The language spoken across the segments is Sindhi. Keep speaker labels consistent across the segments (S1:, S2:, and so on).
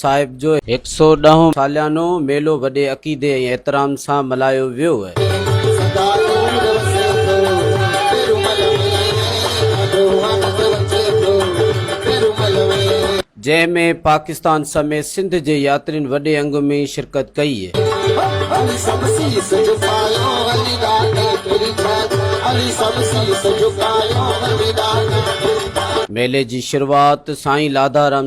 S1: صاحب جو هڪ سؤ ڏهون ساليانو ميلو وڏي عقيدي ۽ احترام سان ملهايو ويو.
S2: جنهن ۾
S1: پاڪستان سميت سنڌ جي ياترين وڏي انگ ۾ شرڪت ڪئي.
S2: ميلي
S1: جي شروعات سائين لاڌارام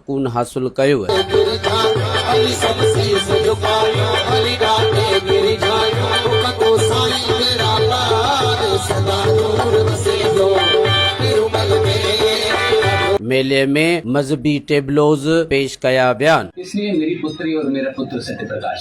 S1: ڪون حاصل ڪيو. ميلي ۾ مذهبي ٽيبلوز پيش ڪيا ويا.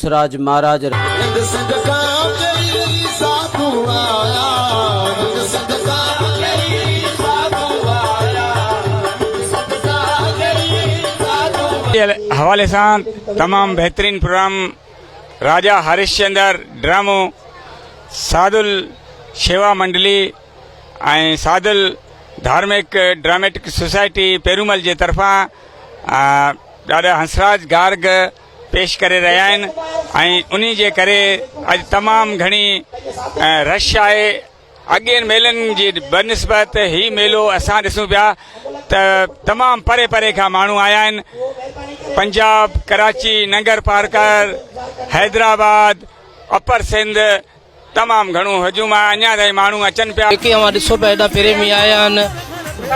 S1: سراج مھاراج رح.
S2: ننگ سنگ ڪان چئي ساڌو آيا ننگ سنگ ڪان چئي ساڌو آيا ننگ سنگ ڪان چئي ساڌو آيا. جي حوالي
S3: سان تمام بهترين پروگرام راجا هرشچندر ڊرامو سادل شيوا منڊلي ۽ سادل ڌارمڪ ڊراميٽڪ سوسائٽي پيرومل جي طرفان ڏاڏا هنسراج گارگ پيش ڪري رهيا آهن ۽ انهي جي ڪري اڄ تمام گهڻي رش آهي اڳين ميلن جي بنسبت هي ميلو اسان ڏسون پيا ته تمام پري پري کان ماڻهو آيا آهن پنجاب ڪراچي ننگر پارڪر حيدرآباد اپر سنڌ تمام گهڻو هجوم آهي اڃان تائين ماڻهو اچن پيا. جيڪي اوهان ڏسو پيا هيڏا
S4: پريمي آيا آهن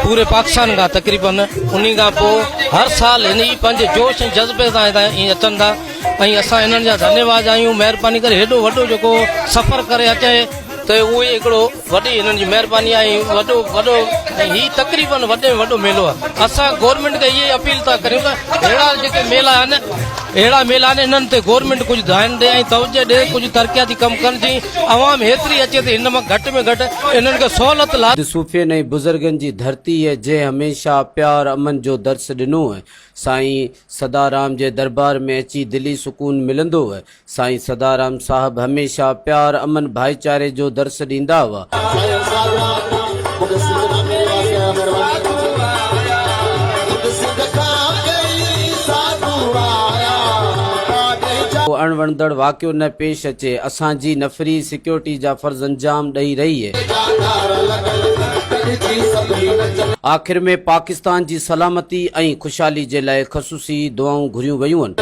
S4: پوري پاڪستان کان تقريبن انهي کان پوء هر سال هن ئي پنهنجي جوش ۽ جذبي سان هتان ائين اچن ٿا ۽ اسان انهن جا ڌنيواد آهيون مهرباني ڪري هيڏو وڏو جيڪو سفر ڪري اچي ته اهو ئي هڪڙو وڏي هنن جي مهرباني آهي وڏو وڏو ۽ هي تقريبن وڏي ۾ وڏو ميلو آهي اسان گورنمينٽ کي اهي اپيل ٿا ڪريون ته اهڙا جيڪي ميلا آهن اهڙا ميلا آهن انهن تي گورنمينٽ ڪجهه ڌيان ڏي ۽ توجه ڏي ڪجهه ترقياتي ڪم ڪن جي عوام هيتري اچي ته هن مان گهٽ ۾ گهٽ انهن کي سهولت لاء سنڌ صوفين ۽ بزرگن
S1: جي ڌرتي هي جنهن هميشه پيار امن جو درس ڏنو هي سائين سدارام جي دربار ۾ اچي دلي سڪون ملندو هي سائين سدارام صاحب هميشه پيار امن ڀائيچاري جو درس ڏيندا هئا. سائين سادرام مون کي سنڌ مان ملي ويا سي مھرباني. ڪو اڻ وڻندڙ واقعو نه پيش اچي اسان جي نفري سيڪيورٽي جا فرض انجام ڏئي رهي هي. آخر ۾ پاڪستان جي سلامتي ۽ خوشحالي جي لاء خصوصي. سي دعائون گهريون ويون.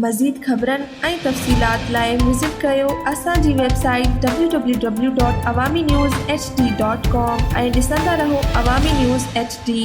S5: مزيد خبرن ۽ تفصيلات لاء وزٽ ڪريو اسان جي website W W W dot Awami news H D dot com ۽ ڏسندا رهو عوامي نيوز ايڇ ڊي.